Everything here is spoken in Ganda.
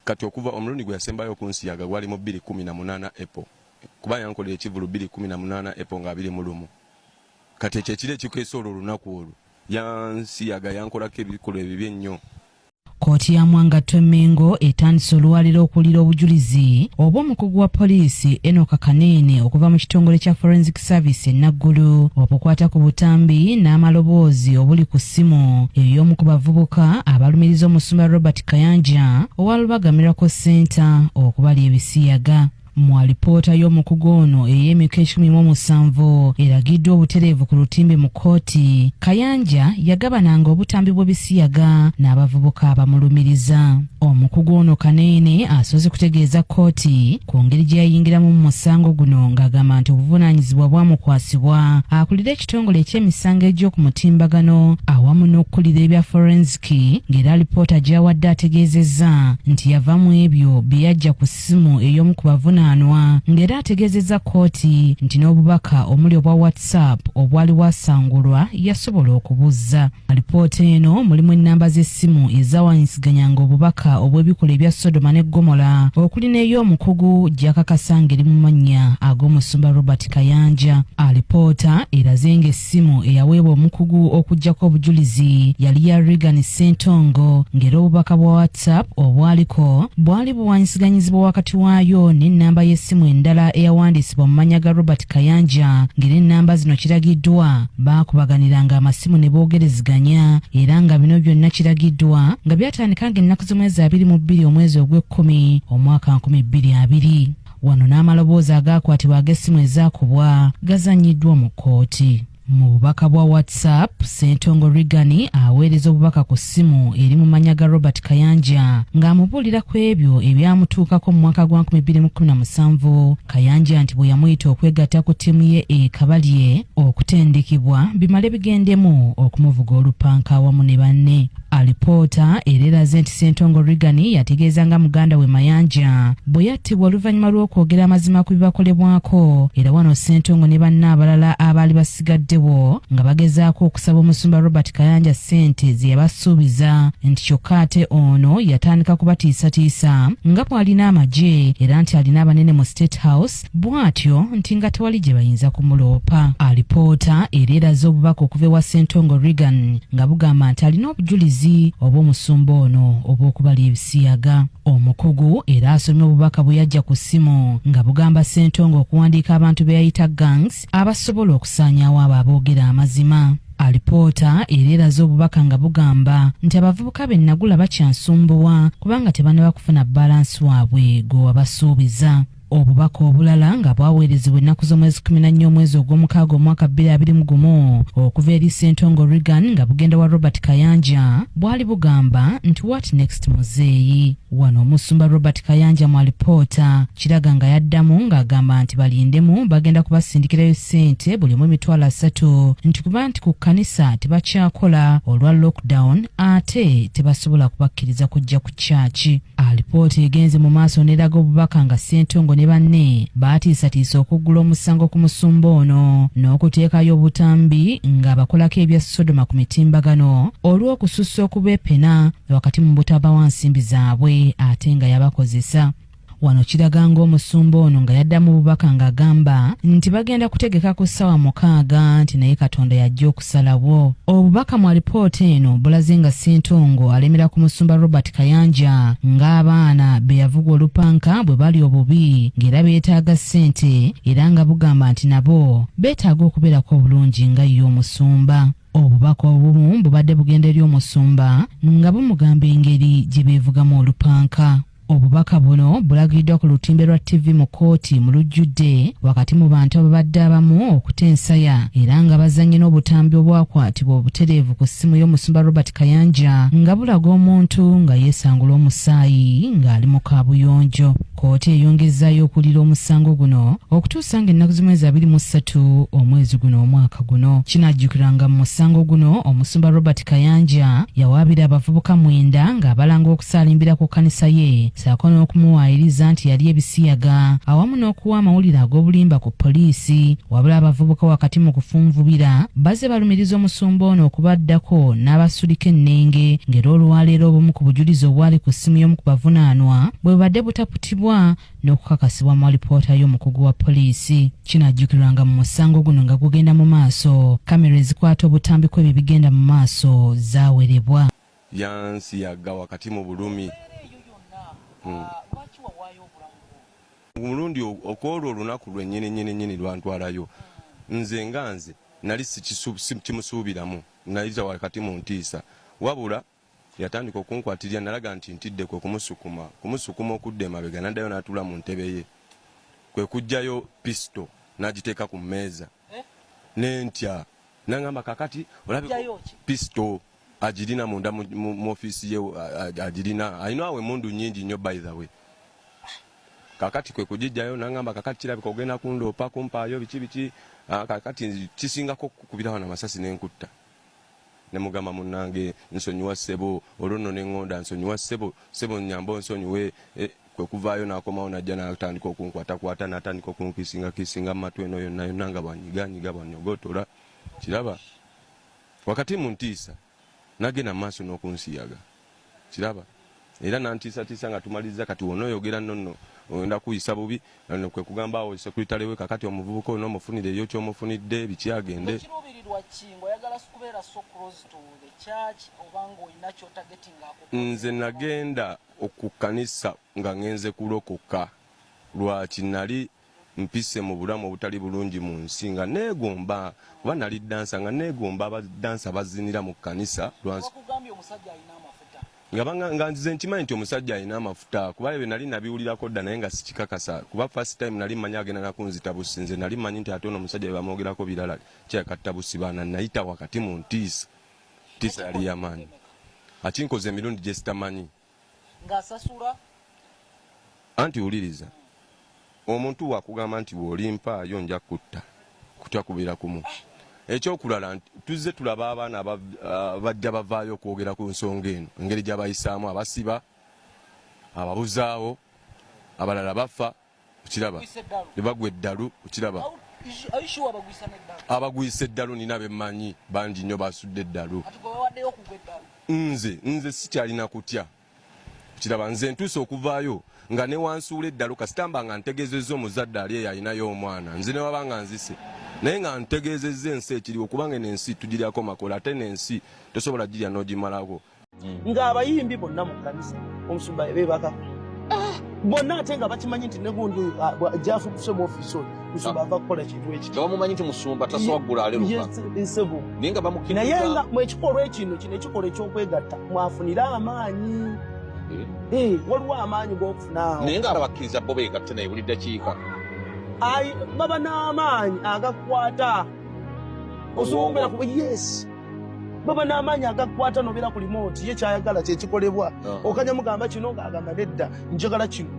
Kati okuva omulundi gwe yasembayo okunsiyaga gwali mu bbiri kkumi na munaana April kuba yankolera ekivvulu bbiri kkumi na munaana April nga abiri mu lumu. Kati ekyo ekiro ekikeesa olwo olunaku olwo yansiyaga yankolako ebikolwa ebibi ennyo. Kkooti ya Mwangatto e Mmengo etandise olwaliro okuwulira obujulizi obw'omukugu wa poliisi Enock Kaneene okuva mu kitongole kya Forensic Service e Naggulu obukwata ku butambi n'amaloboozi obuli ku ssimu ey'omu ku bavubuka abalumiriza omusumba Robert Kayanja owa Lubaga Miracle Center okubalya ebisiyaga mu alipoota y'omukugu ono ey'emyuka ekikumi mu omusanvu eragiddwa obutereevu ku lutimbe mu kkooti kayanja yagabananga obutambi bw'ebisiyaga n'abavubuka abamulumiriza omukugu ono kaneene asoose kutegeeza kkooti ku ngeri gye yayingiramu mu musango guno ng'agamba nti obuvunaanyizibwa bwamukwasibwa akulira ekitongole eky'emisango egy'oku mutimbagano awamu n'okukulira ebya forensic ki ng'era alipoota gy'awadde ategeezezza nti yava mu ebyo bye yajja ku ssimu ey'omu ku bavunaanwa ng'era ategeezezza kkooti nti n'obubaka omuli obwa whatsapp obwali wasangulwa yasobola okubuzza alipoota eno mulimu ennamba z'essimu ezawanyisiganyanga obubaka obw'ebikola ebya sodoma ne gomola okuli n'ey'omukugu gyakakasa ng'eri mu mannya ag'omusumba robert kayanja alipoota eraze ng'es Essimu eyaweebwa omukugu okuggyako obujulizi yali ya Reagan Ssentongo ng'era obubaka bwa WhatsApp obwaliko bwali buwanyisiganyizibwa wakati waayo n'ennamba y'essimu endala eyawandiisibwa mu mannya ga Robert Kayanja ng'era ennamba zino kiragiddwa baakubaganiranga amasimu ne boogereziganya era nga bino byonna kiragiddwa nga byatandika ng'ennaku z'omwezi abiri mu bbiri omwezi ogw'ekkumi omwaka nkumi bbiri abiri. Wano n'amaloboozi agaakwatibwa ag'essimu ezaakubwa gazannyiddwa mu kkooti. Mu bubaka bwa WhatsApp, Ssentongo Rigani aweereza obubaka ku ssimu eri mu mannya ga Robert Kayanja ng'amubuulira ku ebyo ebyamutuukako mu mwaka gwa 2017 Kayanja nti bwe yamuyita okwegatta ku ttiimu ye e Kabalye okutendekebwa bimale bigendemu okumuvuga olupanka awamu ne banne. Alipoota era eraze nti Ssentongo Reagan yategeeza nga muganda we Mayanja bwe yattibwa oluvannyuma lw'okwogera amazima ku bibakolebwako era wano Ssentongo ne banne abalala abaali basigaddewo nga bagezaako okusaba omusumba Robert Kayanja ssente ze yabasuubiza nti kyokka ate ono yatandika kubatiisatiisa nga bw'alina amagye era nti alina abanene mu State House bw'atyo nti nga tewali gye bayinza kumuloopa. Alipoota era eraze obubaka okuva ewa Ssentongo Reagan nga bugamba nti alina obujulizi obw'omusumba ono obw'okubala ebisiyaga. Omukugu era asomye obubaka bwe yajja ku ssimu nga bugamba Ssentongo okuwandiika abantu be yayita gangs abasobola okusaanyaawo abo aboogera amazima. Alipoota era eraze obubaka nga bugamba nti abavubuka be Nagula bakyansumbuwa kubanga tebanaba kufuna bbaalansi waabwe gwe wabasuubiza. Obubaka obulala nga bwaweerezebwa ennaku z'omwezi kumi na nnya omwezi ogw'omukaaga omwaka bbiri abiri mu gumu okuva eri Ssentongo Reagan nga bugenda wa Robert Kayanja bwali bugamba nti what next muzeeyi. Wano omusumba Robert Kayanja mu alipoota kiraga nga yaddamu ng'agamba nti balindemu bagenda kubasindikirayo ssente buli omu emitwalo asatu nti kuba nti ku kkanisa tebakyakola olwa lockdown ate tebasobola kubakkiriza kujja ku kyaki. Alipoota egenze mu maaso n'eraga obubaka nga Ssentongo ne banne baatiisatiisa okuggula omusango ku musumba ono n'okuteekayo obutambi ng'abakolako ebya Sodoma ku mitimbagano olw'okusussa okubeepena wakati mu butabawa nsimbi zaabwe ate nga yabakozesa wano kiraga ng'omusumba ono nga yaddamu bubaka ng'agamba nti bagenda kutegeka ku ssaawa mukaaga nti naye katonda yajja Salawo. Obubaka mu alipoota eno bulaze nga Ssentongo alemera ku musumba Robert Kayanja ng'abaana be yavuga olupanka bwe bali obubi ng'era beetaaga ssente era nga bugamba nti nabo beetaaga okubeerako obulungi nga ye omusumba. Obubaka obumu bubadde bugenda eri omusumba nga bumugamba engeri gye beevugamu olupanka. Obubaka buno bulagiddwa ku lutimbe lwa TV mu kkooti mu lujjudde wakati mu bantu ababadde abamu okuta ensaya era nga bazannye n'obutambi obwakwatibwa obutereevu ku ssimu y'omusumba Robert Kayanja nga bulaga omuntu nga yeesangula omusaayi ng'ali mu kaabuyonjo. Kkooti eyongezzayo okuwulira omusango guno okutuusa sanga ennaku z'omwezi abiri mu ssatu omwezi guno omwaka guno kinajjukiranga mu musango guno omusumba robert kayanja yawaabira abavubuka mwenda ng'abalanga okusaalimbira ku kkanisa ye saako n'okumuwaayiriza nti yali ebisiyaga awamu n'okuwa amawulire ag'obulimba ku poliisi wabula abavubuka wakati mu kufunvubira baze balumiriza omusumba ono okubaddako n'abasulika ennenge ng'era olwaleero obumu ku bujulizi obwali ku ssimu y'omu ku bavunaanwa bwe bubadde butaputibwa n'okukakasibwa mu alipoota y'omukugu wa poliisi kinajjukirwa nga mu musango guno nga gugenda mu maaso kamera ezikwata obutambi kw'ebyo bigenda mu maaso zawerebwa yansi yagga wakati mu bulumi hmm. omulundi okwolwo olunaku lwenyini nyini nyini lwantwalayo nze nga nze nali sikimusuubiramu nayita wakati mu ntiisa wabula Yatandika okunkwatirira nalaga nti ntidde kwe kumusukuma kumusukuma okudda emabega n'addayo n'atuula mu ntebe ye kwe kuggyayo pisito n'agiteeka ku mmeeza eh? ne ntya nangamba kakati olabe pisto agirina munda mu offiisi ye agirina alina awo emundu nyingi nnyo by the way kakati kwe kugijjayo nangamba kakati kirabika ogenda kundoopa kumpaayo biki biki kakati kisingako kukubirawo na masasi nenkutta ne mugamba munange nsonyiwa ssebo olwo nno nengonda nsonyiwa ssebo ssebo nyamba onsonyiwe eh, kwekuvaayo nakomawo najja natandika okunkwatakwata natandika okunkisinga kisinga mumatu eno yonna yonna nga bwanyiganyiga bwanyogotola kiraba wakati muntiisa nagenda mumaaso nokunsiyaga kiraba era nantiisatiisa nga tumaliza kati wonoyogera nonno ogenda kuyisa bubi no kwe kugamba awo sekuritale we kakati omuvubuka olina omufunira eyo kyomufunidde biki agende nze nagenda okukanisa nga ngenze kulokoka lwaki nali Mpise mu bulamu obutali bulungi mu nsi nga neegomba kuba nali ddansa nga neegomba abaddansa bazinira mu kkanisa lwansi nga nzize nkimanyi nti omusajja alina amafuta kuba ebyo nali nabiwulirako dda naye nga sikikakasa kuba first time nali manyi agenda nakunzita busi nze nali manyi nti ate ono omusajja bebamwogerako birala kyakatta busi baana nayita wakati mu ntiisa ntiisa yali yamaanyi akinkoza emirundi gyesitamanyi ng'asasula anti wuliriza omuntu wakugamba nti bw'olimpaayo nja kutta kutya kubeera kumu ekyokulala nti tuzze tulaba abaana ah, bajja bavaayo okwogera ku nsonga eno engeri gyabayisaamu abasiba ababuzaawo abalala bafa okiraba ne bagwa eddalu okiraba abagwisa eddalu nina bemanyi bangi nnyo basudde eddalu nze nze sikyalina kutya kiraba nze ntuuse okuvaayo nga newansuula eddalu kasitamba nga ntegezezza omuzadde ali eyo alinayo omwana nze newaba nga nzise naye nga ntegezezza ensi ekiriwo kubanga eno ensi tugiryako makola ate nensi tosobola girya nogimalako ng'abayimbi bonna mu kkanisa omusumba beebaka ah, bonna ate nga bakimanyi nti negundi ah, jafu kuse mu ofiisi oyo musumba ah. ava kukola kintu ekibamumanyi nti musumba tasowaggula alerukansebo naye nga mu ekikolwa ekino kino ekikolwa eky'okwegatta mwafunire amaanyi eh? Eh, waliwo amaanyi g'okufunaawo naye nga abakkiriza bo beegatte naye buli ddakiika baba n'amaanyi agakwata osobola okubeera kuba yesi baba n'amaanyi agakukwata nobeera ku limooti ye kyayagala kyekikolebwa ah. okanya mugamba kino ng'agamba nedda njagala kino